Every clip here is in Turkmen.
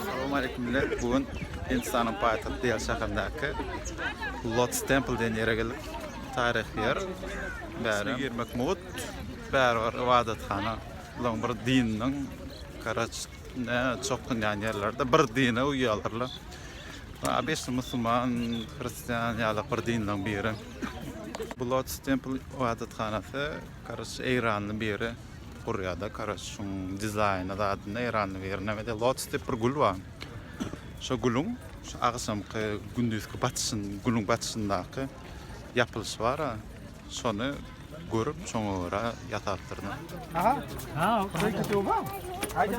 Assalamu aleykum millet. Bu gün Hindistanyň paýtagty Dehli şäherindäki Lotus Temple diýen ýere geldik. Taryhy ýer. Bäri girmek mugt. Bäri bir ybadathana. Bularyň bir dininiň garaç ne çokdunýan ýerlerde bir dine uýýarlar. Abeşli musulman, hristian ýaly bir dinleriň biri. Bu Lotus Temple ibadathanasy Karoç eýranly biri gurýada karoç şuň dizaýny zadynda eýranly biri nämede lotus diýip bir gül bar. Şo gülüň şu agşamky gündüzki batyşyn gülüň batyşyndaky ýapylyşy bar-a şony görüp şoňa görä ýasapdyryn. Aha. Ha, şeýle töwba. Aýda.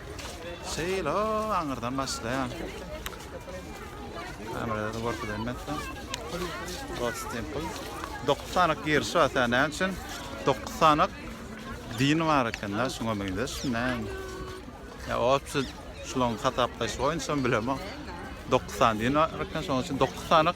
Şeýle aňyrdan başlaýan. Kamerada gorkudan mekde. Lotus Temple. 9 sanak giriş bar sen näme üçin? 9 sanak din bar eken da şuňa meňzeş näme? Ya o şu şulaň hasaplaýşy boýunça bilemok. 9 sany din bar eken şoň üçin 9 sanak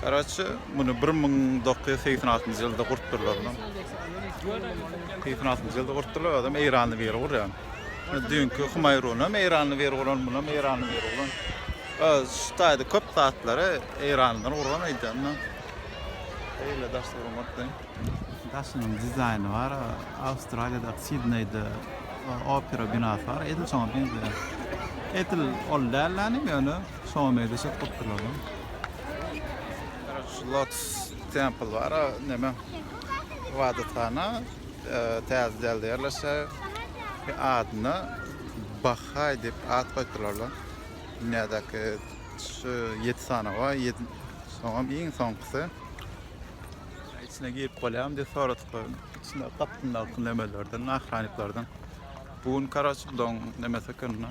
Karaçi muny bir müň dokuz ýüz segsen altynjy ýylda gurtdyrlar. Segsen altynjy ýylda gurtdyrlar, adam eýranly biri gurýan. Düýnki Humaýrun hem eýranly biri guran, muny hem eýranly biri guran. Şu taýda köp zatlary eýranlylar guran aýdýanda. Eýle daş gurmakda. Daşynyň dizaýny bar, Awstraliýadaky Sidneýde opera binasy bar, edil şoňa meňzeýär. Edil ol dällänim ýöne. Şowam edil şyt bolup durýar da. Şu Lotus Temple bar, neme ybadathana täze dälde ýerleşýär. Adyna Bahaý diýip at goýupdyrlar-la. Dünýädäki şu ýedi sanaw bar, ýedi soňam iň soňkusy. Içine girip bolýarmy diýip soradyk. Içinde gapdyndaky nemelerden, ahranniklerden. Bu gün karoç bulaň nemesi ekeni.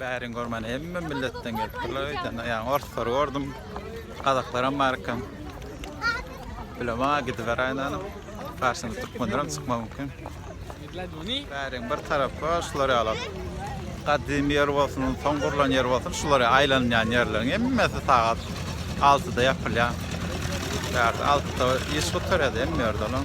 Bärin görmen hemme milletden gelipdirler öýden. Ýa orslary gördüm. Gazaklaram bar eken. Bilema gidiber aýnanyp. Garşyna türkmenlerim çykma mümkin. Bärin bir tarapy şular ýaly. Gadymy ýer bolsun, soň gurlan ýer bolsun, şular aýlanýan ýerleriň hemmesi sagat 6-da ýapylýar. Bärde 6-da iş gutarýar hemme ýerde olam.